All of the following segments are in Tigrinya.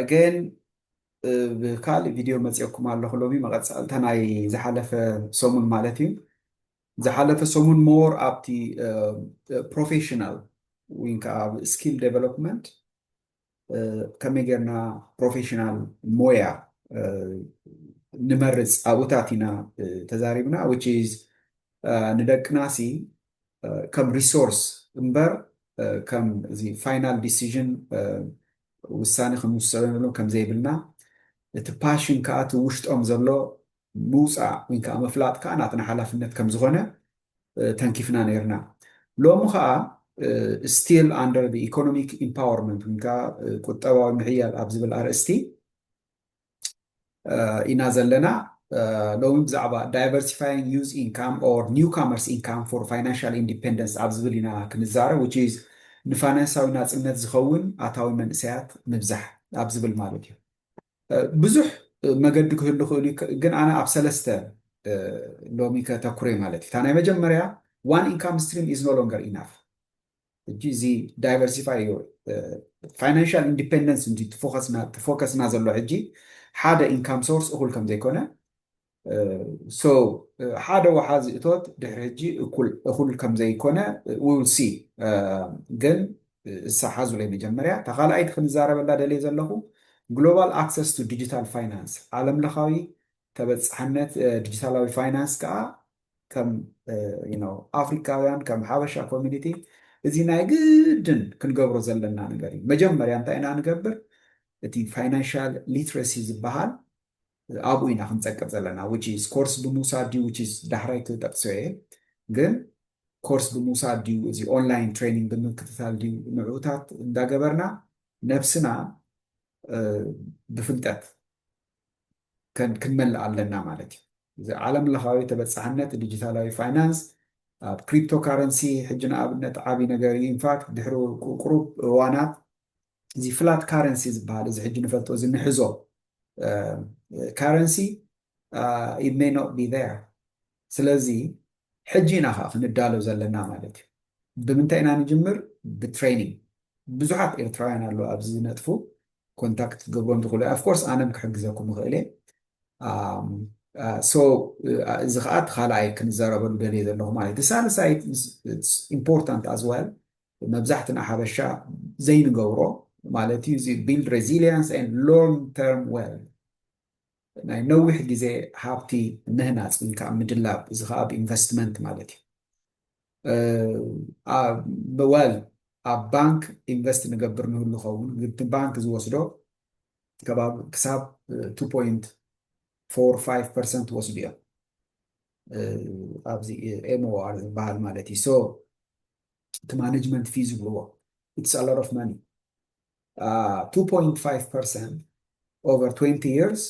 ኣገይን ብካልእ ቪድዮ መፅኦኩም ኣለኹ ሎሚ መቐፃልታ ናይ ዝሓለፈ ሰሙን ማለት እዩ ዝሓለፈ ሰሙን ሞር ኣብቲ ፕሮፌሽናል ወይ ከዓ ኣብ ስኪል ዴቨሎፕመንት ከመይ ጌርና ፕሮፌሽናል ሞያ ንመርፅ ኣብኡታት ኢና ተዛሪብና ዊች ኢዝ ንደቅና ሲ ከም ሪሶርስ እምበር ከም እዚ ፋይናል ዲሲዥን ውሳነ ክንውሰነሉ ከም ዘይብልና እቲ ፓሽን ከዓ እቲ ውሽጦም ዘሎ ምውፃእ ወይ ከዓ ምፍላጥ ከዓ ናትና ሓላፍነት ከም ዝኾነ ተንኪፍና ነይርና። ሎሚ ከዓ ስቲል ኣንደር ኢኮኖሚክ ኢምፓወርመንት ወይ ከዓ ቁጠባዊ ምሕያል ኣብ ዝብል ኣርእስቲ ኢና ዘለና ሎሚ ብዛዕባ ዳይቨርሲፋይንግ ዩዝ ኢንካም ኦር ኒው ካመርስ ኢንካም ፎር ፋይናንሻል ኢንዲፔንደንስ ኣብ ዝብል ኢና ክንዛረብ ዊች ኢዝ ንፋይናንሳዊ ናፅነት ዝኸውን ኣታዊ መንእሰያት ምብዛሕ ኣብ ዝብል ማለት እዩ ብዙሕ መገዲ ክህሉ ክእሉ እዩ ግን ኣነ ኣብ ሰለስተ ሎሚ ከተኩረ ማለት እዩ እታ ናይ መጀመርያ ዋን ኢንካም ስትሪም ኢዝ ኖ ሎንገር ኢናፍ ሕጂ እዚ ዳይቨርሲፋይ እዩ ፋይናንሻል ኢንዲፔንደንስ እንጂ ፎከስና ዘሎ ሕጂ ሓደ ኢንካም ሶርስ እኹል ከም ዘይኮነ ሶ ሓደ ወሓዚ እቶት ድሕሪ ሕጂ እኹል ከም ዘይኮነ ዊ ዊል ሲ ግን እሳ ሓዙለይ መጀመርያ እታ ካልኣይቲ ክንዛረበላ ደልየ ዘለኹ ግሎባል ኣክሰስ ቱ ዲጂታል ፋይናንስ ዓለምለኻዊ ተበፃሕነት ዲጂታላዊ ፋይናንስ ከዓ ከም ኣፍሪካውያን ከም ሓበሻ ኮሚኒቲ እዚ ናይ ግድን ክንገብሮ ዘለና ነገር እዩ። መጀመርያ እንታይ ኢና ንገብር እቲ ፋይናንሻል ሊትረሲ ዝበሃል ኣብኡ ኢና ክንፀቅጥ ዘለና ዊች ኢዝ ኮርስ ብምውሳድ ድዩ ዊች ኢዝ ዳሕራይ ክጠቅሶ እየ ግን ኮርስ ብምውሳድ ድዩ እዚ ኦንላይን ትሬኒንግ ብምክትታል ድዩ ንዕኡታት እንዳገበርና ነብስና ብፍልጠት ክንመልእ ኣለና ማለት እዩ። እዚ ዓለም ለኻዊ ተበፃሕነት ዲጂታላዊ ፋይናንስ ኣብ ክሪፕቶ ካረንሲ ሕጂ ንኣብነት ዓብይ ነገር እዩ። ኢንፋክት ድሕሪ ቁሩብ እዋናት እዚ ፍላት ካረንሲ ዝበሃል እዚ ሕጂ ንፈልጦ እዚ ንሕዞ ካረንሲ ኢት ሜይ ኖት ቢ ዜር ስለዚ ሕጂ ኢና ከኣ ክንዳሎ ዘለና ማለት እዩ። ብምንታይ ኢና ንጅምር ብትሬኒንግ ብዙሓት ኤርትራውያን ኣለዉ ኣብዚ ዝነጥፉ ኮንታክት ክትገብሮም ዝኽእሉ ኣይ ኦፍኮርስ ኣነም ክሕግዘኩም እኽእል እየ ሶ እዚ ከኣ እቲ ካልኣይ ክንዛረበሉ ደልየ ዘለኹ ማለት እዩ። ሳልሳይ ኢምፖርታንት ኣዝ ዌል መብዛሕትና ሓበሻ ዘይንገብሮ ማለት እዩ እዚ ቢልድ ሬዚሊያንስ ኤንድ ሎንግ ተርም ዌልዝ ናይ ነዊሕ ግዜ ሃብቲ ምህናጽ ወይ ከኣ ምድላብ እዚ ከኣ ብ ኢንቨስትመንት ማለት እዩ well ኣብ ባንክ ኢንቨስት ንገብር ንህሉ ከውን ግን እቲ ባንክ ዝወስዶ ከባቢ ክሳብ two point four five percent ይወስዱ እዮም ኣብዚ MOR ዝበሃል ማለት እዩ so እቲ ማነጅመንት ፊ ዝብልዎ it's a lot of money 2.5% over twenty years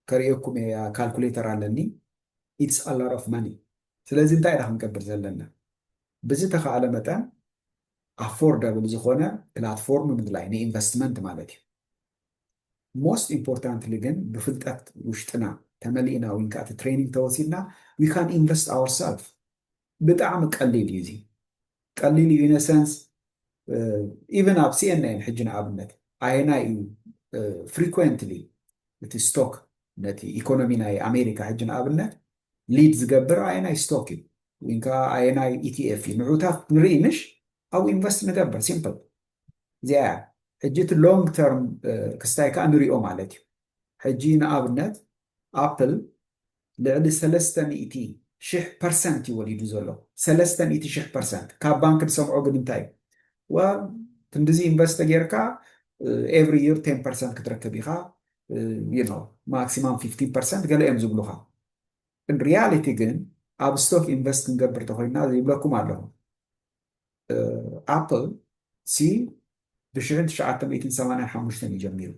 ከርእየኩም እየ ካልኩሌተር ኣለኒ ኢትስ ኣሎት ኦፍ መኒ ስለዚ እንታይ ኢና ክንገብር ዘለና ብዝተኻእለ መጠን ኣፎርደብል ዝኾነ ፕላትፎርም ምድላይ ንኢንቨስትመንት ማለት እዩ ሞስት ኢምፖርታንትሊ ግን ብፍልጠት ውሽጥና ተመሊእና ወይን ከኣቲ ትሬኒንግ ተወሲድና ዊ ካን ኢንቨስት ኣወርሰልፍ ብጣዕሚ ቀሊል እዩ እዚ ቀሊል እዩ ኢነሰንስ ኢቨን ኣብ ሲኤንኤን ሕጂ ንኣብነት ኣየናይ እዩ ፍሪኮንትሊ እቲ ስቶክ ነቲ ኢኮኖሚ ናይ ኣሜሪካ ሕጂ ንኣብነት ሊድ ዝገብር ኣየናይ ስቶክ እዩ ወይ ከዓ ኣየናይ ኢቲኤፍ እዩ ንዑታት ንርኢ ምሽ ኣብኡ ኢንቨስት ንገብር ሲምፕል እዚኣ እያ ሕጂ እቲ ሎንግ ተርም ክስታይ ከዓ ንሪኦ ማለት እዩ ሕጂ ንኣብነት ኣፕል ልዕሊ ሰለስተ ሚእቲ ሽሕ ፐርሰንት እዩ ወሊዱ ዘሎ ሰለስተ ሚእቲ ሽሕ ፐርሰንት ካብ ባንክ ድሰምዖ ግን እንታይ እዩ ዋል ክንድዚ ኢንቨስት ተጌርካ ኤቭሪ ይር ቴን ፐርሰንት ክትረክብ ኢኻ ዩኖ ማክሲማም ፊፍቲን ፐርሰንት ገለ እዮም ዝብሉኻ ግን ሪያሊቲ ግን ኣብ ስቶክ ኢንቨስት ክንገብር ተኮይና ይብለኩም ኣለኹ ኣፕል ሲ ብሽሕን ትሽዓተ ሚእትን ሰማንያን ሓሙሽተን እዩ ጀሚሩ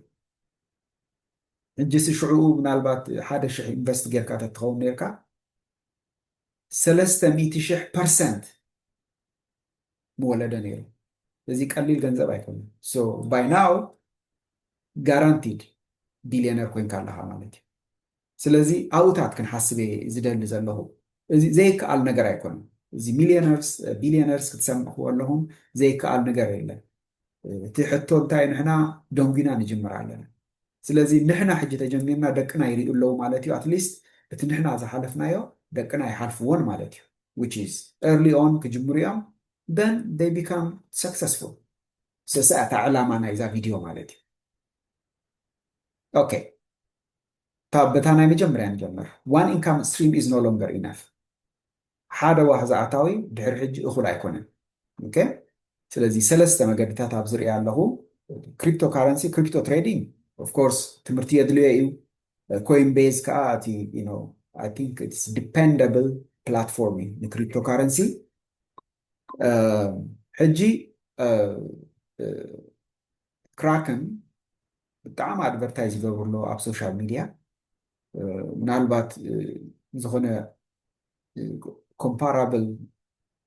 ሕጂሲ ሽዑኡ ምናልባት ሓደ ሽሕ ኢንቨስት ጌርካ ተትኸውን ኔርካ ሰለስተ ሚእቲ ሽሕ ፐርሰንት ምወለደ ነይሩ ስለዚ ቀሊል ገንዘብ ኣይኮነን ሶ ባይ ናው ጋራንቲድ ቢልዮነር ኮንካ ኣለኻ ማለት እዩ ስለዚ ኣብኡታት ክንሓስብ እየ ዝደሊ ዘለኹ። እዚ ዘይከኣል ነገር ኣይኮነን። እዚ ሚልዮነርስ ቢልዮነርስ ክትሰምዕዎ ኣለኹም ዘይከኣል ንገር የለን። እቲ ሕቶ እንታይ እዩ ንሕና ደንጒና ንጅምር ኣለና። ስለዚ ንሕና ሕጂ ተጀሚርና ደቅና ይሪኡ ኣለዉ ማለት እዩ ኣትሊስት እቲ ንሕና ዝሓለፍናዮ ደቅና ኣይሓልፍዎን ማለት እዩ which is early on ክጅምሩ እዮም then they become successful ሰሰ እታ ዕላማ ናይዛ ቪድዮ ማለት እዩ ኦኬ እታ በታ ናይ መጀመርያ ንጀምር፣ One income stream is no longer enough፣ ሓደ ዋሕዚ ኣታዊ ድሕሪ ሕጂ እኹል ኣይኮነን፣ ኦኬ፣ ስለዚ ሰለስተ መገድታት ኣብዚ ርእያ ኣለኹ፣ ክሪፕቶ ካረንሲ፣ ክሪፕቶ ትሬዲንግ፣ ኦፍ ኮርስ ትምህርቲ የድልዮ እዩ፣ ኮይን ቤዝ ከኣ እቲ ዩ ኖው ኣይ ቲንክ ኢትስ ዲፐንደብል ፕላትፎርም እዩ ንክሪፕቶ ካረንሲ ሕጂ ክራክን ብጣዕሚ ኣድቨርታይዝ ይገብሩ ኣለዉ ኣብ ሶሻል ሚድያ ምናልባት ዝኾነ ኮምፓራብል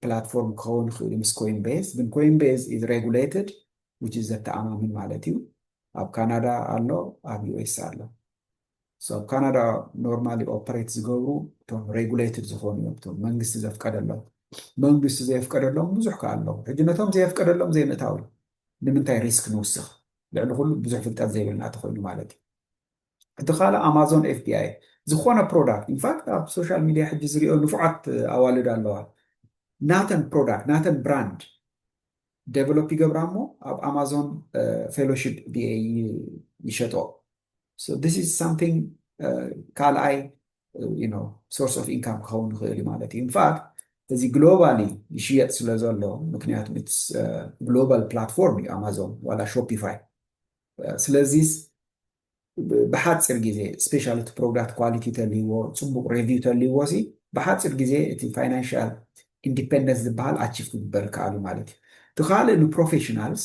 ፕላትፎርም ክኸውን ይኽእል ምስ ኮይን ቤዝ ግን ኮይን ቤዝ ኢዝ ሬጉሌትድ ዊች ኢዝ ዘተኣማምን ማለት እዩ ኣብ ካናዳ ኣሎ ኣብ ዩኤስ ኣሎ ኣብ ካናዳ ኖርማሊ ኦፐሬት ዝገብሩ እቶም ሬጉሌትድ ዝኾኑ እዮም እቶም መንግስቲ ዘፍቀደሎም መንግስቲ ዘየፍቀደሎም ብዙሕ ከ ኣለዉ ሕጂ ነቶም ዘየፍቀደሎም ዘይምእታው እዩ ንምንታይ ሪስክ ንውስኽ ልዕሊ ኩሉ ብዙሕ ፍልጠት ዘይብልና ተኮይኑ ማለት እዩ እቲ ካልእ ኣማዞን ኤፍቢኣይ ዝኾነ ፕሮዳክት ኢንፋክት ኣብ ሶሻል ሚድያ ሕጂ ዝሪኦ ንፉዓት ኣዋልድ ኣለዋ ናተን ፕሮዳክት ናተን ብራንድ ዴቨሎፕ ይገብራ እሞ ኣብ ኣማዞን ፌሎሺፕ ቢኤ ይሸጦ ካልኣይ ሶርስ ኦፍ ኢንካም ክኸውን ይኽእል እዩ ማለት እዩ። ኢንፋክት እዚ ግሎባሊ ይሽየጥ ስለ ዘሎ ምክንያቱ ግሎባል ፕላትፎርም እዩ ኣማዞን ዋላ ሾፒፋይ። ስለዚ ብሓፂር ግዜ ስፔሻሊ እቲ ፕሮዳክት ኳሊቲ ተልይዎ ፅቡቕ ሬቪው ተልይዎ ሲ ብሓፂር ግዜ እቲ ፋይናንሻል ኢንዲፔንደንስ ዝበሃል ኣቺቭ ክግበር ይከኣል ማለት እዩ። እቲ ካልእ ንፕሮፌሽናልስ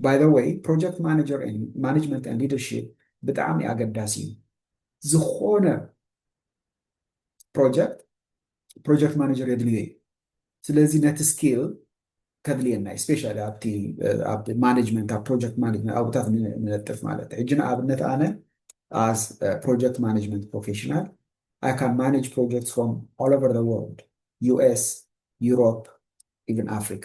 ባይ ዘ ወይ ፕሮጀክት ማነጀር ኤንድ ማነጅመንት ኤንድ ሊደርሺፕ ብጣዕሚ ኣገዳሲ እዩ። ዝኾነ ፕሮጀክት ፕሮጀክት ማነጀር የድልዮ እዩ። ስለዚ ነቲ ስኪል ከድልየና እዩ ስፔሻሊ ኣብቲ ኣብ ማኔጅመንት ኣብ ፕሮጀክት ማኔጅመንት ኣብታት ንነጥፍ ማለት እዩ። ሕጂ ንኣብነት ኣነ ኣዝ ፕሮጀክት ማኔጅመንት ፕሮፌሽናል ኣይ ካን ማኔጅ ፕሮጀክት ፍሮም ኦል ኦቨር ዘ ወርልድ ዩኤስ ዩሮፕ ኢቨን ኣፍሪካ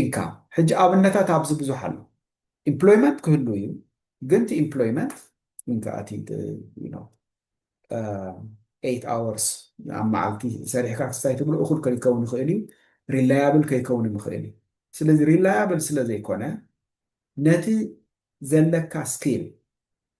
ኢንካም ሕጂ ኣብነታት ኣብዚ ብዙሕ ኣሎ ኢምፕሎይመንት ክህሉ እዩ ግን እቲ ኢምፕሎይመንት እንከኣ እቲ ነው ኤይት ኣወርስ ኣብ መዓልቲ ሰሪሕካ ክስታይ ትብሎ እኹል ከይከውን ይኽእል እዩ ሪላያብል ከይከውን ይኽእል እዩ ስለዚ ሪላያብል ስለ ዘይኮነ ነቲ ዘለካ ስኪል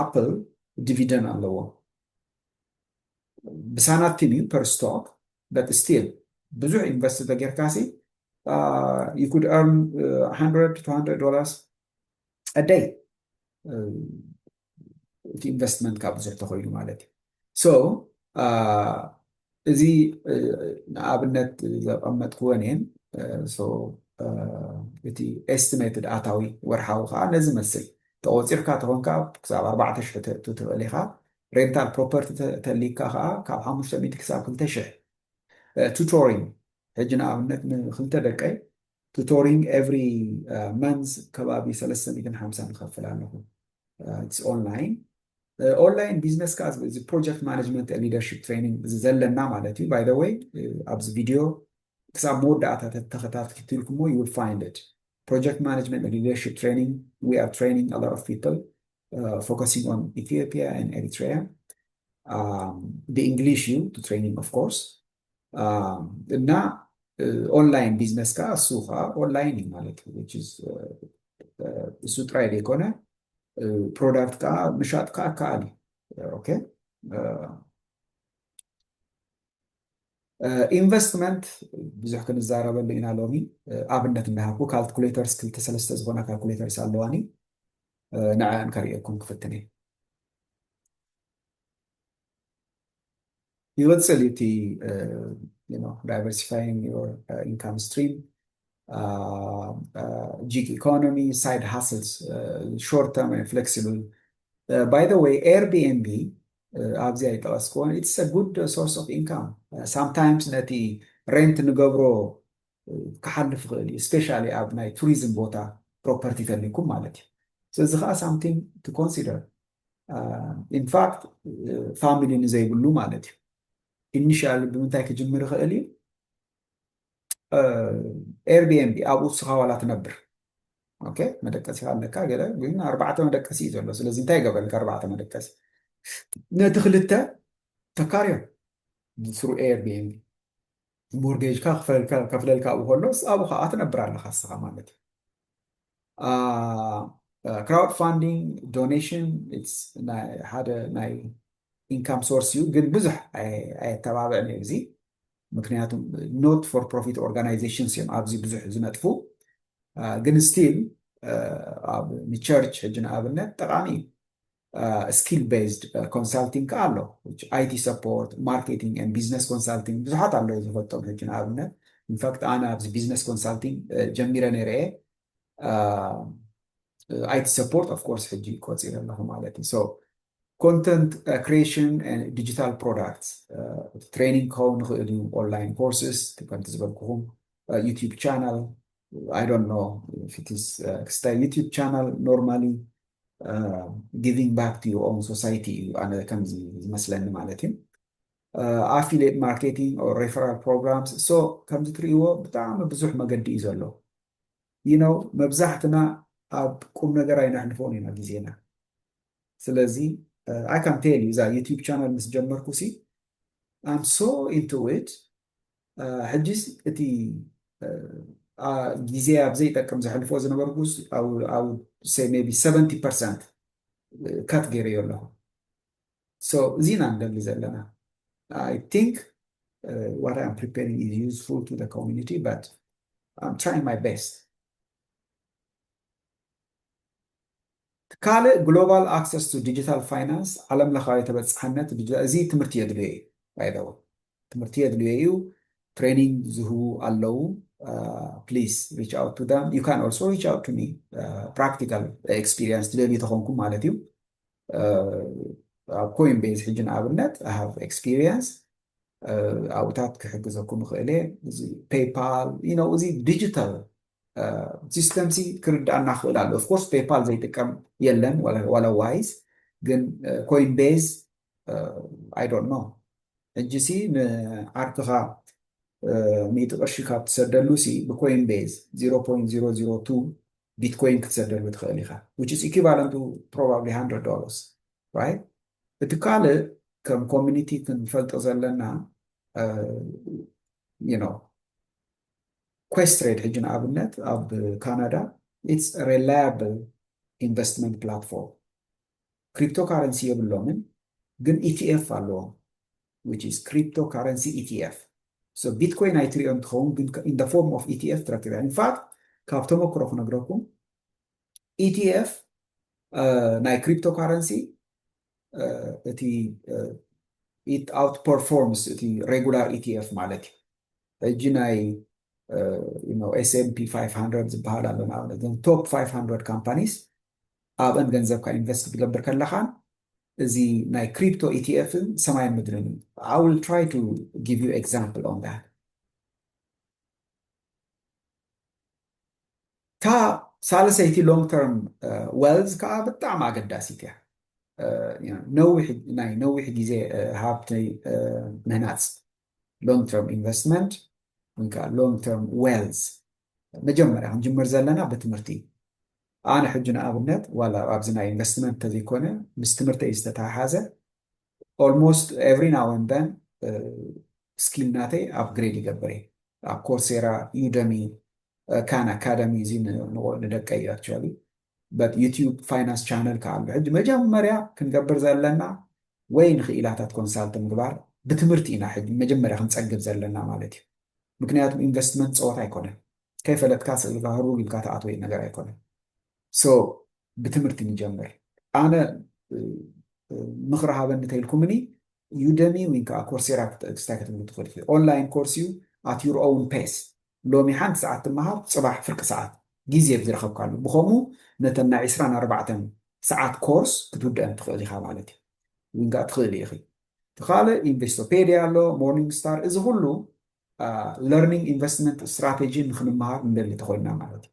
ኣፕል ዲቪደን ኣለዎ ብሳናቲም እዩ ፐር ስቶክ በት ስቲል ብዙሕ ኢንቨስት ተጌርካሲ ዩ ኩድ ኤርን 100 ዶላርስ ኣደይ እቲ ኢንቨስትመንትካ ብዙሕ ተኮይኑ ማለት እዩ እዚ ንኣብነት ዘቐመጥክዎ እኔን እቲ ኤስቲሜትድ ኣታዊ ወርሓዊ ከዓ ነዚ መስል ተቖፂርካ ተኾንካ ክሳብ ኣርባዕተ ሽሕ ተእቱ ትኽእል ኢኻ ሬንታል ፕሮፐርቲ ተሊካ ከዓ ካብ ሓሙሽተ ሚእቲ ክሳብ ክልተ ሽሕ ቱቶሪንግ ሕጂ ንኣብነት ንክልተ ደቀይ ቱቶሪንግ ኤቭሪ መንዝ ከባቢ ሰለስተ ሚእትን ሓምሳን እኸፍል ኣለኹ ኢትስ ኦንላይን ኦንላይን ቢዝነስ ከዓ እዚ ፕሮጀክት ማኔጅመንት ሊደርሽፕ ትሬኒንግ እዚ ዘለና ማለት እዩ ባይ ዘ ወይ ኣብዚ ቪድዮ ክሳብ መወዳእታ ተኸታትልኩሞ ዩ ዊል ፋይንድ ኢት ፕሮጀክት ማኔጅመንት ሊደርሽፕ ትሬኒንግ ዊ ኣር ትሬኒንግ ኣ ሎት ኦፍ ፒፕል ፎከሲንግ ኦን ኢትዮጵያ ን ኤሪትሪያ ብእንግሊሽ እዩ ቱ ትሬኒንግ ኦፍ ኮርስ እና ኦንላይን ቢዝነስ ከዓ እሱ ከዓ ኦንላይን እዩ ማለት እሱ ጥራይ ዘይኮነ ፕሮዳክት ከዓ ምሻጥ ከዓ ከኣል እዩ ኦኬ ኢንቨስትመንት ብዙሕ ክንዛረበሉ ኢና ሎሚ ኣብነት እንዳሃብኩ ካልኩሌተርስ ክልተ ሰለስተ ዝኾና ካልኩሌተርስ ኣለዋኒ ንዕን ከርእየኩም ክፍትን እየ ይቕጽል እዩ እቲ ዳይቨርሲፋይንግ ዮር ኢንካም ስትሪም ጂግ ኢኮኖሚ ሳይድ ሃስልስ ሾርት ተርም ፍሌክሲብል ባይ ዘ ወይ ኤርቢኤንቢ ኣብዚ ኣይጠቐስክዎን ኢትስ ጉድ ሶርስ ኦፍ ኢንካም ሳምታይምስ ነቲ ሬንት ንገብሮ ክሓልፍ ይኽእል እዩ ስፔሻሊ ኣብ ናይ ቱሪዝም ቦታ ፕሮፐርቲ ተሊኩም ማለት እዩ ስለዚ ከዓ ሳምቲንግ ቱ ኮንሲደር ኢንፋክት ፋሚሊ ንዘይብሉ ማለት እዩ ኢኒሽያል ብምንታይ ክጅምር ይኽእል እዩ ኤርቢኤንቢ ኣብኡ ንስኻ ዋላ ትነብር ኦኬ መደቀሲኻ ኣለካ ገለ ግን ኣርባዕተ መደቀሲ እዩ ዘሎ ስለዚ እንታይ ገበልካ ኣርባዕተ መደቀሲ ነቲ ክልተ ተካርዮ ስሩ ኤርቢኤንቢ ሞርጌጅካ ከፍለልካ ኣብኡ ከሎ ኣብኡ ከዓ ትነብር ኣለካ ንስኻ ማለት እዩ ክራውድ ፋንዲንግ ዶኔሽን ሓደ ናይ ኢንካም ሶርስ እዩ፣ ግን ብዙሕ ኣየተባብዕን እዩ እዚ ምክንያቱ ኖት ፎር ፕሮፊት ኦርጋናይዜሽንስ እዮም ኣብዚ ብዙሕ ዝነጥፉ ግን ስቲል ኣብ ንቸርች ሕጂ ንኣብነት ጠቃሚ እዩ ስኪል ቤዝድ ኮንሳልቲንግ ከኣ ኣሎ which ኣይቲ ሰፖርት ማርኬቲንግ and ቢዝነስ ኮንሳልቲንግ ብዙሓት ኣለዉ ዝፈልጦም ሕጂ ንኣብነት ኢንፋክት ኣነ ኣብዚ ቢዝነስ ኮንሳልቲንግ ጀሚረ ነይረ እየ ኣይቲ ሰፖርት ኦፍ ኮርስ ሕጂ ቆፂረ ኣለኹ ማለት እዩ ሶ ኮንተንት ክሪኤሽን ዲጂታል ፕሮዳክት ትሬኒንግ ክኸውን ንኽእል እዩ ኦንላይን ኮርስስ ከምቲ ዝበልኩኹም ዩቲዩብ ቻናል ኣይ ዶንት ኖ ፊትስ ክስታይ ዩቲዩብ ቻናል ኖርማሊ ጊቪንግ ባክ ቱ ዮር ኦን ሶሳይቲ እዩ ኣነ ከም ዝመስለኒ ማለት እዩ ኣፊሌት ማርኬቲንግ ኦር ሬፈራል ፕሮግራምስ ሶ ከምዚ ትርእይዎ ብጣዕሚ ብዙሕ መገዲ እዩ ዘሎ ይኖ መብዛሕትና ኣብ ቁም ነገር ኣይነሕልፎን ኢና ግዜና ስለዚ ኣይ ካን ቴል እዩ እዛ ዩቲብ ቻናል ምስ ጀመርኩ ሲ ኣም ሶ ኢንቱ ኢት ሕጂስ እቲ ግዜ ኣብ ዘይጠቅም ዘሕልፎ ዝነበርኩስ ሜቢ ሰቨንቲ ፐርሰንት ካት ገይረዮ ኣለኹ። እዚ ኢና ንደሊ ዘለና ኣይ ቲንክ ዋት ኣም ፕሪፔሪንግ ኢዝ ዩዝፉል ቱ ዘ ኮሚኒቲ በት ኣም ትራይንግ ማይ ቤስት። ካልእ ግሎባል ኣክሰስ ቱ ዲጂታል ፋይናንስ ዓለም ለኻዊ ተበፃሕነት ዲጂታል እዚ ትምህርቲ የድልዮ እዩ ባይ ዘ ወይ ትምህርቲ የድልዮ እዩ ትሬኒንግ ዝህቡ ኣለው ፕሊዝ ሪች ኣውት ቱ ዳም ዩ ካን ኦልሶ ሪች ኣውት ቱ ሚ ፕራክቲካል ኤክስፒሪየንስ ትደልዩ ተኾንኩም ማለት እዩ ኣብ ኮይን ቤዝ ሕጂ ንኣብነት ሃቭ ኤክስፒሪየንስ ኣብኡታት ክሕግዘኩም ይኽእል እየ እዚ ፔይፓል እዚ ዲጂታል ሲስተም ሲ ክርዳኣና ክኽእል ኣሎ ኦፍኮርስ ፔፓል ዘይጥቀም የለን ዋላ ዋይዝ ግን ኮይን ቤዝ ኣይ ዶንት ኖ ሕጂ ሲ ንዓርክኻ ሚእቲ ቅርሺ ካብ ትሰደሉ ሲ ብኮይን ቤዝ 0.002 ቢትኮይን ክትሰደሉ ትኽእል ኢኻ which is equivalent to probably 100 dollars right እቲ ካልእ ከም ኮሚኒቲ ክንፈልጦ ዘለና you know ኳስትሬድ ሕጂ ንኣብነት ኣብ ካናዳ ኢትስ ሬላያብል ኢንቨስትመንት ፕላትፎርም ክሪፕቶ ካረንሲ የብሎምን ግን ኢቲኤፍ ኣለዎም which is crypto currency ETF so ቢትኮይን ኣይትሪኦ እንትኸውን ግን in the form of ETF ትረክብ እያ ኢንፋክት ካብ ተመክሮ ክነግረኩም ETF ናይ ክሪፕቶ ካረንሲ እቲ ኢት ኣውት ፐርፎርምስ እቲ ሬጉላር ኢቲኤፍ ማለት እዩ ሕጂ ናይ ኤስኤምፒ 500 ዝበሃል ኣሎ ንኣብነት እዞም ቶፕ 500 ካምፓኒስ ኣብአን ገንዘብካ ኢንቨስት ክትገብር ከለኻን እዚ ናይ ክሪፕቶ ኢቲኤፍን ሰማይን ምድርን እዩ ኣይ ዊል ትራይ ቱ ጊቭ ዩ ኤግዛምፕል ኦን ዳት እታ ሳልሰይቲ ሎንግ ተርም ዌልዝ ከዓ ብጣዕሚ ኣገዳሲት እያ ናይ ነዊሕ ግዜ ሃብቲ ምህናፅ ሎንግ ተርም ኢንቨስትመንት ወይ ከዓ ሎንግ ተርም ዌልዝ መጀመርያ ክንጅምር ዘለና ብትምህርቲ እዩ ኣነ ሕጂ ንኣብነት ዋላ ኣብዚ ናይ ኢንቨስትመንት ተዘይኮነ ምስ ትምህርተይ ዝተተሓሓዘ ኦልሞስት ኤቭሪ ናው ኤንድ ዘን ስኪል ናተይ ኣፕግሬድ ይገብር እየ ኣብ ኮርሴራ ዩደሚ ካን ኣካደሚ እዚ ንደቀይ እዩ ኣክቹዋሊ በት ዩቲዩብ ፋይናንስ ቻነል ከዓ ኣሎ ሕጂ መጀመርያ ክንገብር ዘለና ወይ ንክኢላታት ኮንሳልት ምግባር ብትምህርቲ ኢና ሕጂ መጀመርያ ክንፀግብ ዘለና ማለት እዩ ምክንያቱ ኢንቨስትመንት ፀወታ ኣይኮነን ከይፈለጥካ ስእልካ ህሩግ ኢልካ ተኣትወይ ነገር ኣይኮነን ሶ ብትምህርቲ ንጀምር ኣነ ምኽሪ ሃበኒ ተይልኩምኒ ዩደሚ ወይ ከዓ ኮርሴራ ክስታይ ክትብሉ ትኽእል ኢኹ ኦንላይን ኮርስ እዩ ኣት ዩር ኦውን ፔስ ሎሚ ሓንቲ ሰዓት ትመሃር ፅባሕ ፍርቂ ሰዓት ግዜ ብዝረኸብካሉ ብከምኡ ነተን ናይ ዕስራን ኣርባዕተን ሰዓት ኮርስ ክትውድአን ትኽእል ኢኻ ማለት እዩ ወይ ከዓ ትኽእሊ ኢኺ እቲ ካልእ ኢንቨስቶፔድያ ኣሎ ሞርኒንግ ስታር እዚ ኩሉ ለርኒንግ ኢንቨስትመንት ስትራቴጂ ንክንመሃር ንደሊ ተኮይንና ማለት እዩ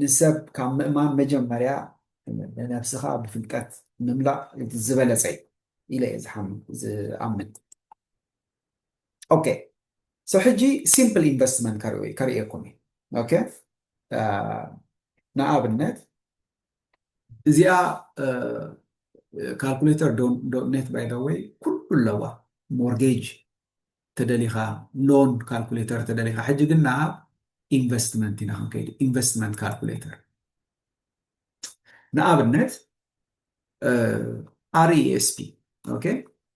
ንሰብ ካብ ምእማን መጀመርያ ንነብስኻ ብፍልጠት ምምላእ እቲ ዝበለፀ እዩ ኢለ እየ ዝኣምን ኦኬ ሶ ሕጂ ሲምፕል ኢንቨስትመንት ከርእየኩም እዩ ኦኬ ንኣብነት እዚኣ ካልኩሌተር ዶት ኔት ባይ ዘ ወይ ኩሉ ኣለዋ ሞርጌጅ ተደሊኻ ሎን ካልኩሌተር ተደሊኻ ሕጂ ግን ናብ ኢንቨስትመንት ኢና ክንከይድ ኢንቨስትመንት ካልኩሌተር ንኣብነት RESP ኦኬ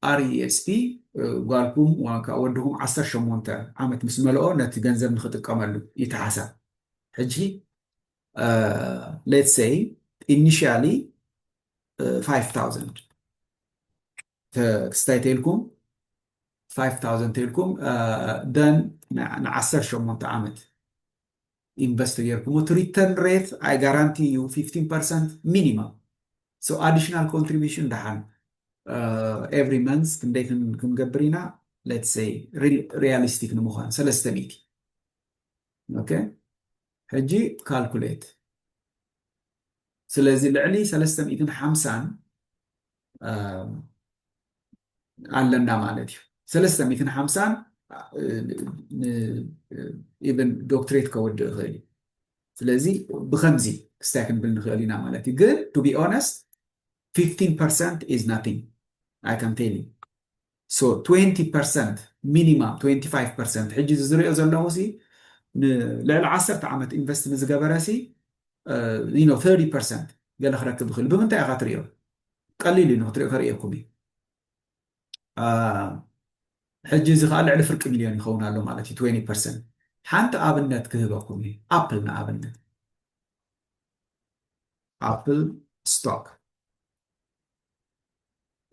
RESP ጓልኩም ዋንካ ወድኹም 18 ዓመት ምስ መልኦ ነቲ ገንዘብ ንክጥቀመሉ ይተሓሳብ ሕጂ ሌትስ ሰይ ኢኒሽያሊ 5000 ክስታይ ተይልኩም ፋይፍ ታውዘንድ ተይልኩም ደን ንዓሰርተ ሸሞንተ ዓመት ኢንቨስት ተጌርኩሞ እቲ ሪተርን ሬት ኣይ ጋራንቲ እዩ ፊፍቲን ፐርሰንት ሚኒማም ሶ ኣዲሽናል ኮንትሪቢሽን ደሓን ኤቭሪ መንስ ክንደይ ክንገብር ኢና ሌትስ ሰይ ሪያሊስቲክ ንምዃን ሰለስተ ሚእቲ ኦኬ ሕጂ ካልኩሌት ስለዚ ልዕሊ ሰለስተ ሚእትን ሓምሳን ኣለና ማለት እዩ ሰለስተ ሚትን ሓምሳን ኢቨን ዶክትሬት ከወድእ ይኽእል እዩ ስለዚ ብከምዚ ክስታይ ክንብል ንኽእል ኢና ማለት እዩ ግን ቱ ቢ ኦነስት 15 ፐርሰንት ኢዝ ናቲንግ ኣይ ካን ቴል so ትዌንቲ ፐርሰንት ሚኒማም ትዌንቲ ፋይቭ ፐርሰንት ሕጂ እዚ ዝሪኦ ዘለኹ ሲ ንልዕሊ ዓሰርተ ዓመት ኢንቨስት ንዝገበረ ሲ ዩ ኖ ተርቲ ፐርሰንት ገለ ክረክብ ይኽእል እዩ። ብምንታይ ኢኻ ትሪኦ ቀሊል እዩ ንክትሪኦ ከርእየኩም እዩ አ፣ ሕጂ እዚ ከዓ ልዕሊ ፍርቂ ሚልዮን ይኸውን ኣሎ ማለት እዩ ትዌንቲ ፐርሰንት ሓንቲ ኣብነት ክህበኩም እዩ ኣፕል ንኣብነት ኣፕል ስቶክ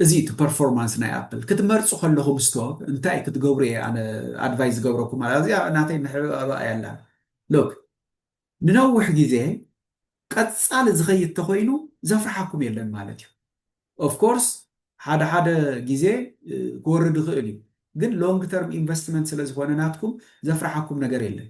እዚ እቲ ፐርፎርማንስ ናይ ኣፕል። ክትመርጹ ከለኹም ስቶክ እንታይ ክትገብሩ እየ ኣነ ኣድቫይስ ዝገብረኩም ኣላ እዚኣ ናተይ ምሕብእባ እያ ኣላ ሎክ ንነውሕ ግዜ ቀጻሊ ዝኸይድ ተኾይኑ ዘፍርሓኩም የለን ማለት እዩ ኦፍ ኮርስ ሓደ ሓደ ግዜ ክወርድ ይኽእል እዩ ግን ሎንግ ተርም ኢንቨስትመንት ስለ ዝኾነ ናትኩም ዘፍርሓኩም ነገር የለን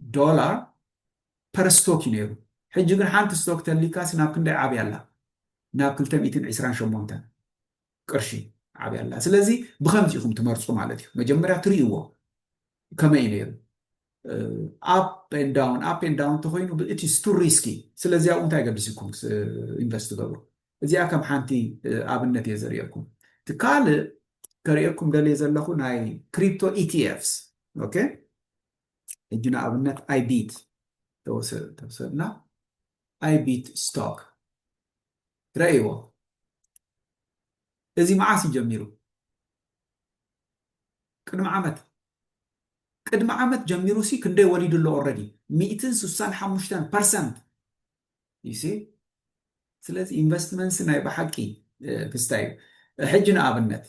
ዶላር ፐር ስቶክ እዩ ነይሩ። ሕጂ ግን ሓንቲ ስቶክ ተሊካስ ናብ ክንደይ ዓብያ ኣላ? ናብ ክልተ ሚእትን ዕስራን ሸሞንተን ቅርሺ ዓብያ ኣላ። ስለዚ ብኸምዚ ኢኹም ትመርጹ ማለት እዩ። መጀመርያ ትርእይዎ ከመይ እዩ ነይሩ ኣፕ ኤን ዳውን ኣፕ ኤን ዳውን እንተኾይኑ ኢትስ ቱ ሪስኪ። ስለዚ ኣብኡ እንታይ ገዲሱኩም ኢንቨስት ትገብሩ? እዚኣ ከም ሓንቲ ኣብነት እየ ዘርእየኩም። እቲ ካልእ ከርእየኩም ደልየ ዘለኹ ናይ ክሪፕቶ ETFs ኦኬ ሕጂ ንኣብነት ኣይቢት ተወሰድና ኣይቢት ስቶክ ረእይዎ እዚ መዓስ እዩ ጀሚሩ ቅድሚ ዓመት ቅድሚ ዓመት ጀሚሩ ሲ ክንደይ ወሊዱ ኣሎ ኦልሬዲ ሚእትን ስሳን ሓሙሽተን ፐርሰንት ይሲ ስለዚ ኢንቨስትመንትስ ናይ ብሓቂ ክስታይ እዩ ሕጂ ንኣብነት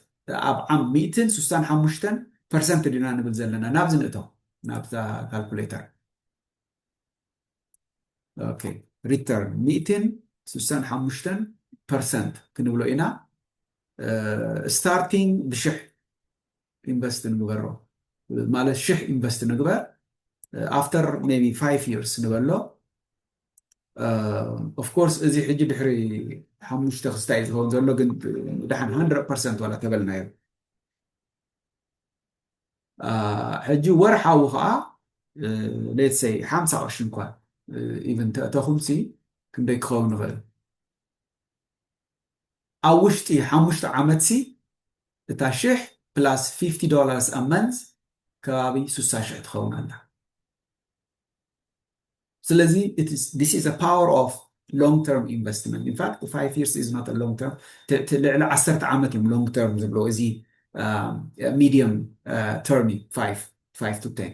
ኣብ ዓም ሚእትን ስሳን ሓሙሽተን ፐርሰንት ድና ንብል ዘለና ናብዚ ንእቶ ናብዛ ካልኩሌተር ኦኬ ሪተርን ሚእትን ስሳን ሓሙሽተን ፐርሰንት ክንብሎ ኢና ስታርቲንግ ብሽሕ ኢንቨስት ንግበሮ ማለት ሽሕ ኢንቨስት ንግበር ኣፍተር ሜይ ቢ ፋይቭ ይርስ ንበሎ ኦፍ ኮርስ እዚ ሕጂ ድሕሪ ሓሙሽተ ክስታይ እዩ ዝኸውን ዘሎ ግን ድሓን ሃንድረድ ፐርሰንት ዋላ ተበልናዮ ሕጂ ወርሓዊ ከዓ ሌትሰይ ሓምሳ ቅርሺ እንኳን ኢቨን ተእተኹምሲ ክንደይ ክኸውን ይኽእል ኣብ ውሽጢ ሓሙሽተ ዓመትሲ እታ ሽሕ ፕላስ ፊፍቲ ዶላርስ ኣ መንዝ ከባቢ ስሳ ሽሕ ትኸውን ኣላ። ስለዚ ዚስ ኢዝ ዘ ፓወር ኦፍ ሎንግ ተርም ኢንቨስትመንት ኢን ፋክት ፋይቭ ይርስ ኢዝ ኖት ሎንግ ተርም እቲ ልዕሊ ዓሰርተ ዓመት እዮም ሎንግ ተርም ዝብልዎ እዚ ሚድየም ተርም እዩ ፋይቭ ፋይቭ ቱ ቴን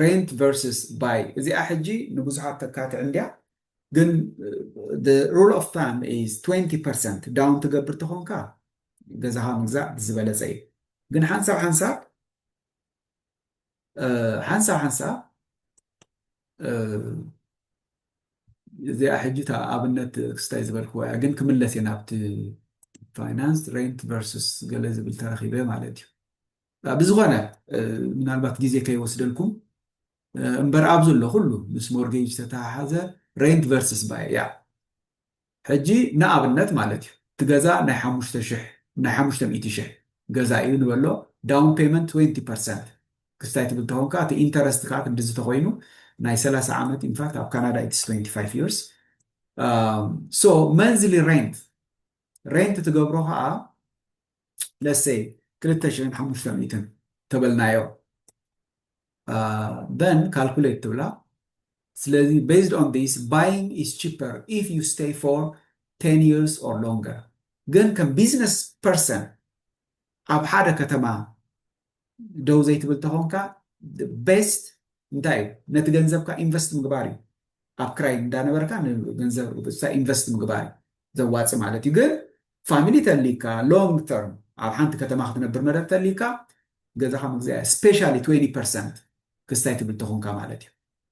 ሬንት ቨርስስ ባይ እዚኣ ሕጂ ንብዙሓት ተካትዕ እንድያ ግን the rule of thumb is 20% ዳውን ትገብር ተኾንካ ገዛኻ ምግዛእ ብዝበለፀ እዩ ግን ሓንሳብ ሓንሳብ ሓንሳብ ሓንሳብ እዚኣ ሕጂ እታ ኣብነት ክስታይ ዝበልክዎ እያ ግን ክምለስ እየ ናብቲ ፋይናንስ ሬንት ቨርስስ ገለ ዝብል ተረኪበ ማለት እዩ ብዝኾነ ምናልባት ግዜ ከይወስደልኩም እምበር ኣብ ዘሎ ኩሉ ምስ ሞርጌጅ ዝተተሓሓዘ ሬንት ቨርስስ ባይ ያእ ሕጂ ንኣብነት ማለት እዩ እቲ ገዛ ናይ ሓሙሽተ ሽሕ ናይ ሓሙሽተ ሚእቲ ሽሕ ገዛ እዩ ንበሎ ዳውን ፔመንት ትዌንቲ ፐርሰንት ክስታይ ትብል ተኾንካ እቲ ኢንተረስት ከዓ ክንድዚ ተኾይኑ ናይ ሰላሳ ዓመት ኢንፋክት ኣብ ካናዳ ኢትስ ትዌንቲ ፋይቭ ይርስ ሶ መንዝሊ ሬንት ሬንት ትገብሮ ከዓ ለሴይ ክልተ ሽሕን ሓሙሽተ ሚእትን ተበልናዮ በን ካልኩሌት ትብላ ስለዚ ቤዝድ ኦን ዲስ ባይንግ ኢዝ ቺፐር ኢፍ ዩ ስቴይ ፎር ቴን ይርስ ኦር ሎንገር ግን ከም ቢዝነስ ፐርሰን ኣብ ሓደ ከተማ ደው ዘይትብል ተኾንካ ቤስት እንታይ እዩ ነቲ ገንዘብካ ኢንቨስት ምግባር እዩ ኣብ ክራይ እንዳነበርካ ንገንዘብ ኢንቨስት ምግባር እዩ ዘዋፅ ማለት እዩ ግን ፋሚሊ ተሊካ ሎንግ ተርም ኣብ ሓንቲ ከተማ ክትነብር መደር ተሊካ ገዛኻ ምግዛያ ስፔሻሊ 20 ፐርሰንት ክስታይ ትብል ተኾንካ ማለት እዩ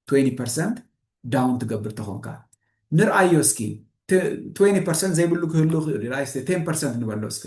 20 ፐርሰንት ዳውን ትገብር ተኾንካ ንርኣዮ እስኪ 20 ፐርሰንት ዘይብሉ ክህሉ ክእሉ ቴን ፐርሰንት ንበሎ እስከ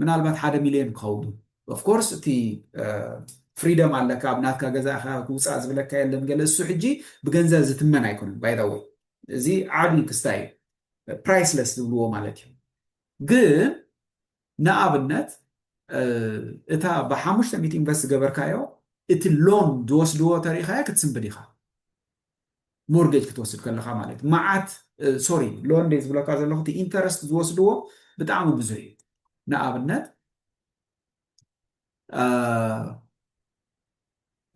ምናልባት ሓደ ሚልዮን ክኸውን እዩ ኦፍ ኮርስ እቲ ፍሪደም ኣለካ ኣብ ናትካ ገዛ ኢኻ ክውፃእ ዝብለካ የለን ገለ እሱ ሕጂ ብገንዘብ ዝትመን ኣይኮነን ባይ ዘ ወይ እዚ ዓብዪ ክስታይ እዩ ፕራይስለስ ዝብልዎ ማለት እዩ ግን ንኣብነት እታ ብሓሙሽተ ሚእቲ ኢንቨስት ዝገበርካዮ እቲ ሎን ዝወስድዎ ተሪኢኻዮ ክትስንብድ ኢኻ ሞርጌጅ ክትወስድ ከለኻ ማለት መዓት ሶሪ ሎን ደይ ዝብለካ ዘለኹ እቲ ኢንተረስት ዝወስድዎ ብጣዕሚ ብዙሕ እዩ ንኣብነት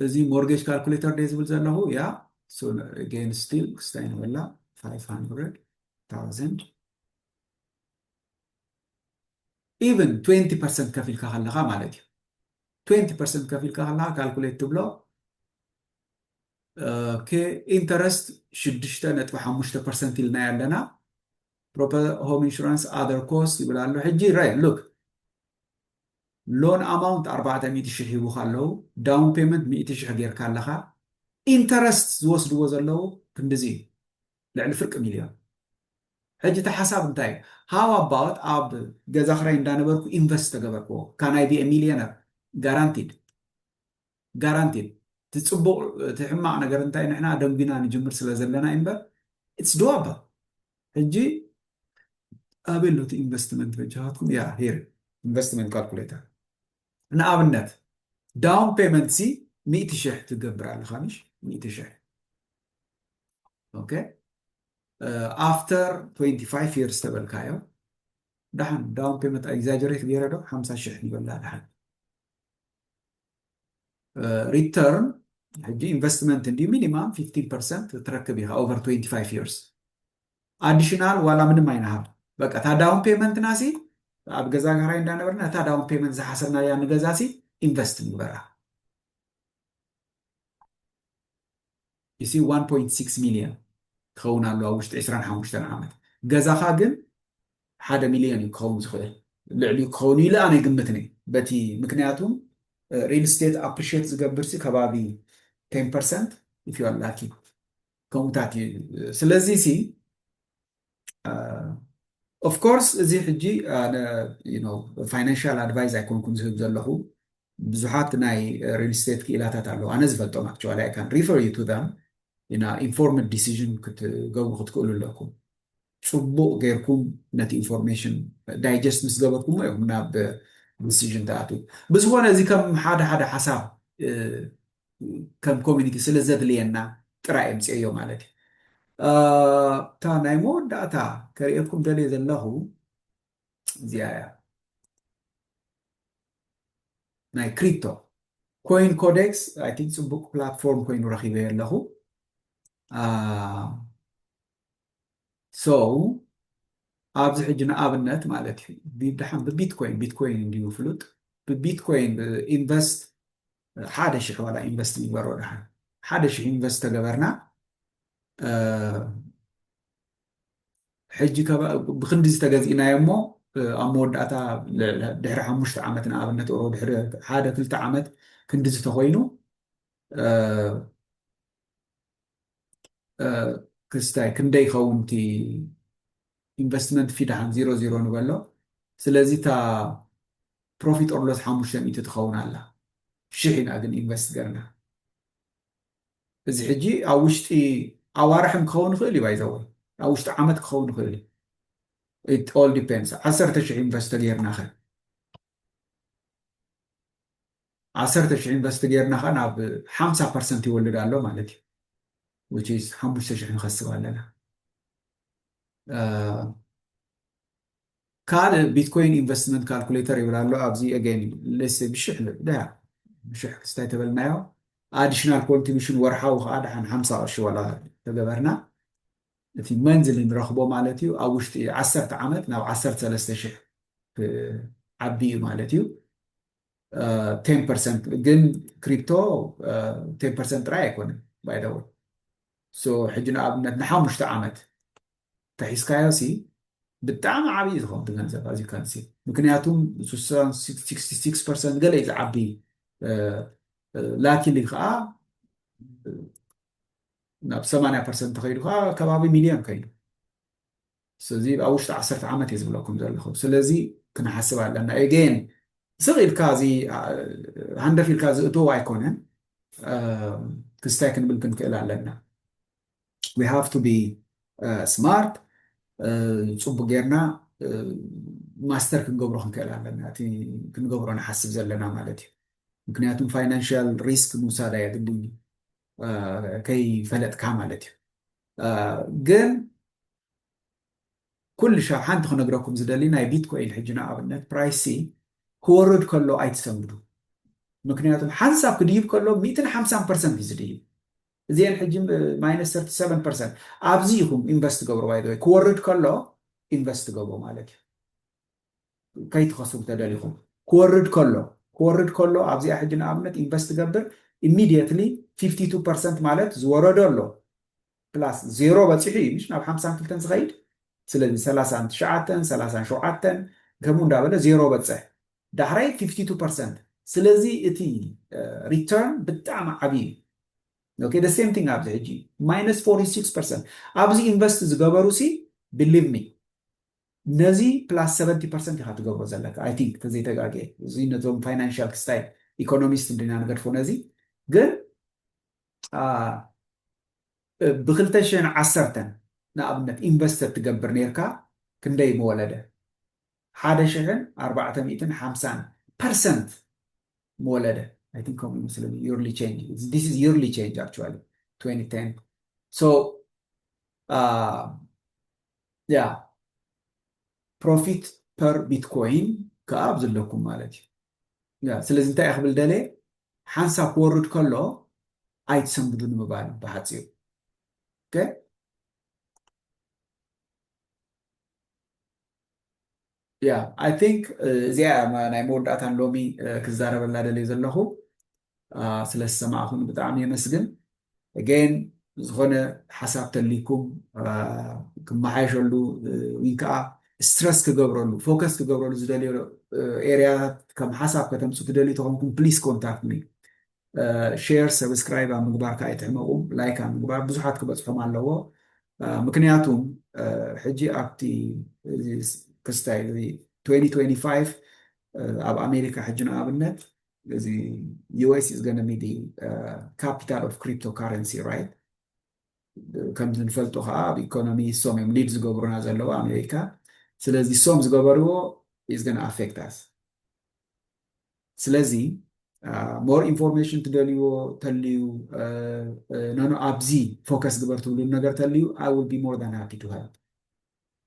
እዚ ሞርጌጅ ካልኩሌተር ደ ዝብል ዘለኹ ያ ጌን ስቲል ክስታይ ንበላ 500,000 ኢቨን 20 ፐርሰንት ከፊልካ ከለካ ማለት እዩ 20 ፐርሰንት ከፊልካ ከለካ ካልኩሌት ትብሎ ኢንተረስት ሽዱሽተ ነጥቢ ሓሙሽተ ፐርሰንት ኢልናያ ኣለና ሆም ኢንሹራንስ ኣዘር ኮስት ይብል ኣሎ ሕጂ ራይ ሉክ ሎን ኣማውንት ኣርባዕተ ሚእቲ ሽሕ ሂቡካ ኣለዉ ዳውን ፔመንት ሚእቲ ሽሕ ጌርካ ኣለኻ ኢንተረስት ዝወስድዎ ዘለዉ ክንድዚ እዩ ልዕሊ ፍርቂ ሚልዮን ሕጂ እቲ ሓሳብ እንታይ እዩ ሃው ኣባወት ኣብ ገዛ ክራይ እንዳነበርኩ ኢንቨስት ተገበርክዎ ካናይ ቢ ሚልዮነር ጋራንቲድ ጋራንቲድ እቲ ፅቡቅ እቲ ሕማቅ ነገር እንታይ ንሕና ኣደንጉና ንጅምር ስለ ዘለና እዩ እምበር ኢትስ ዶዋብል ሕጂ ኣበይ ኣሎ እቲ ኢንቨስትመንት በጃኻትኩም ያ ሄር ኢንቨስትመንት ካልኩሌተር ንኣብነት ዳውን ፔመንት ሲ ሚእቲ ሽሕ ትገብር ኣለኻ ምሽ ሚእቲ ሽሕ ኦኬ ኣፍተር 25 ይርስ ተበልካዮ ደሓን ዳውን ፔመንት ኤግዛጀሬት ገይረ ዶ ሓምሳ ሽሕ ይበላ ደሓን ሪተርን ሕጂ ኢንቨስትመንት እንድዩ ሚኒማም ፊፍቲን ፐርሰንት ትረክብ ኢኻ ኦቨር ትዌንቲ ፋይቭ ይርስ ኣዲሽናል ዋላ ምንም ኣይንሃብ በቃ እታ ዳውን ፔመንትና ሲ ኣብ ገዛ ጋራይ እንዳነበርና እታ ዳውን ፔመንት ዝሓሰብናያ ንገዛ ሲ ኢንቨስት ንግበራ You see one point six million ክኸውን ኣለዎ ኣብ ውሽጢ ዕስራን ሓሙሽተን ዓመት ገዛኻ ግን ሓደ ሚልዮን እዩ ክኸውን ዝኽእል ልዕሊኡ ክኸውን እዩ ኢለ ኣነ ይግምትኒ በቲ ምክንያቱም ሪል ስቴት ኣፕሪሽት ዝገብርሲ ከባቢ ቴን ፐርሰንት ኢፍ ዩ ኣር ላኪ ከምኡታት እዩ ስለዚ ሲ ኦፍ ኮርስ እዚ ሕጂ ኣነ ፋይናንሻል ኣድቫይዝ ኣይኮንኩን ዝህብ ዘለኹ ብዙሓት ናይ ሪል ስቴት ክኢላታት ኣለዉ ኣነ ዝፈልጦም ኣክቹዋሊ ኣይ ካን ሪፈር ዩ ቱ ዛም ኢና ኢንፎርምድ ዲሲዥን ክትገብሩ ክትክእሉ ኣለኩም ፅቡቕ ጌርኩም ነቲ ኢንፎርሜሽን ዳይጀስት ምስ ገበርኩሞ እዮም ናብ ዲሲዥን ተኣትዉ ብዝኾነ እዚ ከም ሓደ ሓደ ሓሳብ ከም ኮሚኒቲ ስለ ዘድልየና ጥራይ ኣምጽኦዮ ማለት እዩ። እታ ናይ መወዳእታ ከርእየኩም ደልየ ዘለኹ እዚኣ እያ። ናይ ክሪፕቶ ኮይን ኮዴክስ ኣይ ቲንክ ፅቡቅ ፕላትፎርም ኮይኑ ረኪበዮ ኣለኹ ሶ ኣብዚ ሕጂ ንኣብነት ማለት እዩ ድሓን ብቢትኮይን ቢትኮይን እንድዩ ፍሉጥ ብቢትኮይን ኢንቨስት ሓደ ሽሕ ዋላ ኢንቨስት ንግበሮ ደሓን ሓደ ሽሕ ኢንቨስት ተገበርና ሕጂ ብክንዲ ዝተገዚእናዮ እሞ ኣብ መወዳእታ ድሕሪ ሓሙሽተ ዓመት ንኣብነት ኦ ድሕሪ ሓደ ክልተ ዓመት ክንዲ ዝተኮይኑ ክስታይ ክንደይ ይኸውን እቲ ኢንቨስትመንት ፊ ደሓን ዚሮ ዚሮ ንበሎ ስለዚ እታ ፕሮፊት ኦር ሎስ ሓሙሽተ ሚእቲ ትኸውን ኣላ ሽሕ ኢና ግን ኢንቨስት ገርና እዚ ሕጂ ኣብ ውሽጢ ኣዋርሕን ክኸውን ይኽእል እዩ ባይዘወ ኣብ ውሽጢ ዓመት ክኸውን ይኽእል እዩ ኦል ዲፔንድስ ዓሰርተ ሽሕ ኢንቨስት ተገይርና ኸ ዓሰርተ ሽሕ ኢንቨስት ጌርና ከኣ ናብ ሓምሳ ፐርሰንት ይወልድ ኣሎ ማለት እዩ which is ሓሙሽተ ሽሕ ንኸስብ ኣለና ካልእ ቢትኮይን ኢንቨስትመንት ካልኩሌተር ይብል ኣሎ ኣብዚ ኣገን ልስ ብሽሕ ልብዳያ ብሽሕ ክስታይ ተበልናዮ ኣዲሽናል ኮንትሪቢሽን ወርሓዊ ከዓ ድሓን ሓምሳ ቅርሺ ዋላ ተገበርና እቲ መንዝሊ ንረኽቦ ማለት እዩ። ኣብ ውሽጢ ዓሰርተ ዓመት ናብ ዓሰርተ ሰለስተ ሽሕ ክዓቢ እዩ ማለት እዩ። ቴን ፐርሰንት ግን ክሪፕቶ ቴን ፐርሰንት ጥራይ ኣይኮነን ባይ ዘ ወይ ሶ ሕጂ ንኣብነት ንሓሙሽተ ዓመት ተሒዝካዮ ሲ ብጣዕሚ ዓብዪ ዝኾን እቲ ገንዘብ ኣዚ ካንሲ ምክንያቱ ስሳን ሲክስቲ ሲክስ ፐርሰንት ገለ እዩ ዝዓቢ ላኪሊ ከዓ ናብ ሰማንያ ፐርሰንት ተኸይዱ ከዓ ከባቢ ሚልዮን ከይዱ ስለዚ ኣብ ውሽጢ ዓሰርተ ዓመት እየ ዝብለኩም ዘለኹ ስለዚ ክንሓስብ ኣለና ኤጌን ስቕ ኢልካ እዚ ሃንደፍ ኢልካ ዝእትዎ ኣይኮነን ክስታይ ክንብል ክንክእል ኣለና ዊ ሃቭ ቱ ቢ ስማርት ፅቡቅ ጌርና ማስተር ክንገብሮ ክንክእል ኣለና እቲ ክንገብሮ ንሓስብ ዘለና ማለት እዩ ምክንያቱም ፋይናንሽያል ሪስክ ምውሳድ ኣየድልን እዩ ከይፈለጥካ ማለት እዩ ግን ኩሉ ሻብ ሓንቲ ክነግረኩም ዝደሊ ናይ ቢትኮይን ሕጂ ንኣብነት ፕራይሲ ክወርድ ከሎ ኣይትሰምዱ ምክንያቱ ሓንሳብ ክድይብ ከሎ ሚእትን ሓምሳን ፐርሰንት እዩ ዝድይብ እዚአን ሕጂ ማይነስ ሰርቲ ሰቨን ፐርሰንት ኣብዚ ኢኹም ኢንቨስት ገብሮ ባይዘወይ ክወርድ ከሎ ኢንቨስት ገብሮ ማለት እዩ ከይትኸስሩ ተደሊኹም ክወርድ ከሎ ክወርድ ከሎ ኣብዚኣ ሕጂ ንኣብነት ኢንቨስት ትገብር ኢሚድየትሊ ፊፍቲ ቱ ፐርሰንት ማለት ዝወረዶ ኣሎ ፕላስ ዜሮ በፂሑ እዩ ምሽ ናብ ሓምሳን ክልተን ዝኸይድ ስለዚ ሰላሳን ትሽዓተን ሰላሳን ሸውዓተን ከምኡ እንዳበለ ዜሮ በፅሕ ዳሕራይ ፊፍቲ ቱ ፐርሰንት ስለዚ እቲ ሪተርን ብጣዕሚ ዓብዪ እዩ ኦኬ ደ ሴም ቲንግ ኣብዚ ሕጂ ማይነስ ፎርቲ ሲክስ ፐርሰንት ኣብዚ ኢንቨስት ዝገበሩ ሲ ብሊቭ ሚ ነዚ ፕላስ ሰቨንቲ ፐርሰንት ኢኻ ትገብሮ ዘለካ ኣይ ቲንክ ተዘይተጋግየ እዚ ነዞም ፋይናንሻል ክስታይ ኢኮኖሚስት እንዲና ንገድፎ ነዚ ግን ብክልተ ሽሕን ዓሰርተን ንኣብነት ኢንቨስት ተትገብር ነይርካ ክንደይ ምወለደ ሓደ ሽሕን ኣርባዕተ ሚእትን ሓምሳን ፐርሰንት ምወለደ ኣይ ቲንክ ከምኡ ይመስለኒ ዩርሊ ቼንጅ ዲስ ኢዝ ዩርሊ ቼንጅ ኣክቹዋሊ 2010 ሶ ያ ፕሮፊት ፐር ቢትኮይን ክኣ ኣብዚ ኣለኩም ማለት እዩ ያ ስለዚ እንታይ እየ ክብል ደልየ ሓንሳብ ክወርድ ከሎ ኣይትሰንብዱ ንምባል ብሓፂሩ ኦኬ ያ ኣይ ቲንክ እዚኣ እያ ናይ መወዳእታን ሎሚ ክዛረበላ ደልየ ዘለኹ ስለ ዝሰማዕኹም ብጣዕሚ የመስግን ጌን ዝኾነ ሓሳብ ተልይኩም ክመሓየሸሉ ወይ ከዓ ስትረስ ክገብረሉ ፎከስ ክገብረሉ ዝደልዮ ኤርያታት ከም ሓሳብ ከተምፁ ትደልዩ ተኾንኩም ፕሊስ ኮንታክት ሚ ሼር ሰብስክራይብ ኣብ ምግባር ካኣ ኣይትሕመቁ ላይክ ኣብ ምግባር ብዙሓት ክበጽሖም ኣለዎ ምክንያቱ ሕጂ ኣብቲ ክስታይ 2025 ኣብ ኣሜሪካ ሕጂ ንኣብነት እዚ ዩኤስ ኢዝ ገነ ቢ ካፒታል ኦፍ ክሪፕቶ ካረንሲ ራይት ከምዚ ንፈልጦ ከዓ ኣብ ኢኮኖሚ ሶም እዮም ሊድ ዝገብሩና ዘለዉ ኣሜሪካ ስለዚ ሶም ዝገበርዎ ኢዝ ገን ኣፌክት ኣስ ስለዚ ሞር ኢንፎርሜሽን ትደልይዎ ተልዩ ኖኖ ኣብዚ ፎከስ ግበር ትብሉ ነገር ተልዩ ኣይ ዊል ቢ ሞር ዳን ሃፒ ቱ ሄልፕ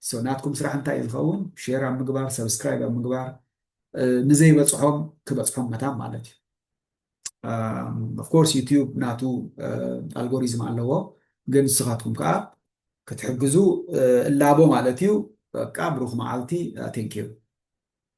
ሶ ናትኩም ስራሕ እንታይ እዩ ዝኸውን ሼር ኣብ ምግባር ሰብስክራይብ ኣብ ምግባር ንዘይበፅሖም ክበፅሖም መታን ማለት እዩ ኦፍኮርስ ዩትዩብ ናቱ ኣልጎሪዝም ኣለዎ ግን ንስኻትኩም ከዓ ክትሕግዙ እላቦ ማለት እዩ በቃ ብሩኽ መዓልቲ ቴንኪዩ